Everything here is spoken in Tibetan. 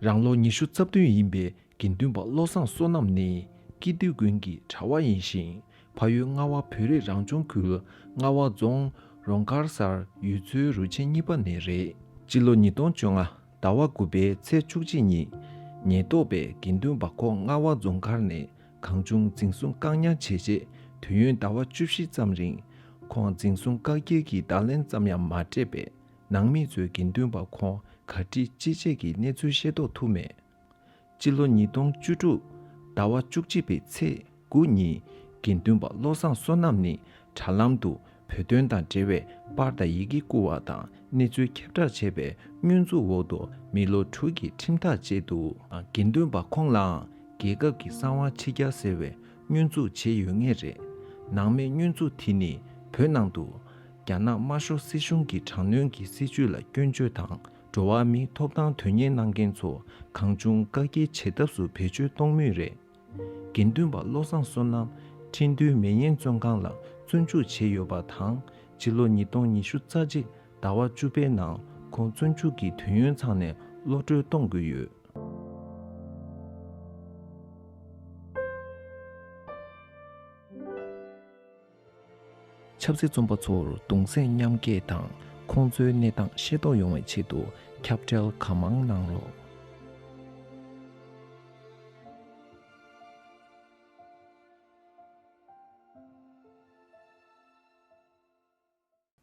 རང་ལོ་ཉི་ཤུ་རྩ་བདུན་ཡིན་པའི་དགེ་འདུན་པ་བློ་བཟང་བསོད་ནམས་ནི་སྐྱིད་སྡུད་དགོན་གྱི་གྲྭ་བ་ཡིན་ཞིང་ཕ་ཡུལ་རྔ་བ་བོད་རིགས་རང་སྐྱོང་ཁུལ་རྔ་བ་རྫོང་རོང་དཀར་སར་ཡུལ་ཚོའི་རུ་ཆེན་གཉིས་པ་ནས་རེད། སྤྱི་ལོ་ཉིས་སྟོང་བཅོ་ལྔ་ཟླ་བ་དགུ་པའི་ཚེས་བཅུ་གཅིག་ཉིན་ཉེན་རྟོག་པས་དགེ་འདུན་པ་ཁོ་རྔ་བ་རྫོང་མཁར་ནས་གང་བྱུང་འཛིན་བཟུང་བཀག་ཉར་བྱས་རྗེས་དུས་ཡུན་ཟླ་བ་བཅུ་བཞི་ཙམ་རིང་ཁོང་འཛིན་བཟུང་བཀག་སྐྱིལ་གྱི་བརྡ་ལན་ཙམ་ཡང་མ་སྤྲད་པས། ནང་མི་ཚོའི་དགེ་འདུན་པ་ཁོང་ག་ཁྲི་ཅི་བྱས་ཀྱི་གནས་ཚུལ་ཤེས་རྟོགས་ཐུབ་མེད། སྤྱི་ལོ་ཉིས་སྟོང་བཅུ་དྲུག་ཟླ་བ་བཅུ་གཅིག་པའི་ཚེས་དགུ་ཉིན་དགེ་འདུན་པ་བློ་བཟང་བསོད་ནམས་ནི་དྲྭ་ལམ་དུ་བོད་དོན་དང་འབྲེལ་བའི་པར་དང་ཡི་གེ་བསྐུར་བ་དང་གནས་ཚུལ་ཁྱབ་བསྒྲགས་བྱས་པའི་བསྙོན་འཛུགས་འོག་ཏུ་མི་ལོ་དྲུག་གི་ཁྲིམས་ཐག་བཅད་འདུག། དགེ་འདུན་པ་ཁོང་ལའང་རྒྱལ་ཁབ་ཀྱི་གསང་བ་ཕྱི་རྒྱ་ཟེར་བའི་བསྙོན་འཛུགས་བྱས་ཡོད་ངེས་རེད། ནང་མི་བསྙོན་འཛུགས་དེ་ནི་བོད་ནང་དུ། རྒྱ་ནག་དམར་ཤོག་སྲིད་གཞུང་གི་དྲག་གནོན་གྱི་སྲིད་ཇུས་ལ་སྐྱོན་བརྗོད་དང་འགྲོ་བ་མིའི་ཐོབ་ཐང་དོན་གཉེར་གནང་མཁན་ཚོ་གང་བྱུང་བཀག་སྐྱིལ་བྱེད་ཐབས་སུ་བེད་སྤྱོད་གཏོང་མུས་རེད། དགེ་འདུན་པ་བློ་བཟང་བསོད་ནམས་ཁྲིན་ཏུའུ་མེ་ཡན་བཙོན་ཁང་ལ་བཙོན་འཇུག་བྱས་ཡོད་པ་དང་ཕྱི་ལོ་ཉིས་སྟོང་ཉི་ཤུ་རྩ་གཅིག་ཟླ་བ་བཅུ་པའི་ནང་ཁོང་བཙོན་འཇུག་གི་དུས་ཡུན་ཚང་ནས་ཀློད་གྲོལ་གཏོང་དགོས་ཡོད། ཆབ་སྲིད་རྩོམ་པ་ཚོར་གདུང་སེམས་མཉམ་སྐྱེད་དང་ཁོང་ཚོའི་གནས་སྟངས་ཤེས་རྟོགས་ཡོང་བའི་ཆེད་དུ་ཁྱབ་བརྡལ་གང་མང་གནང་རོགས།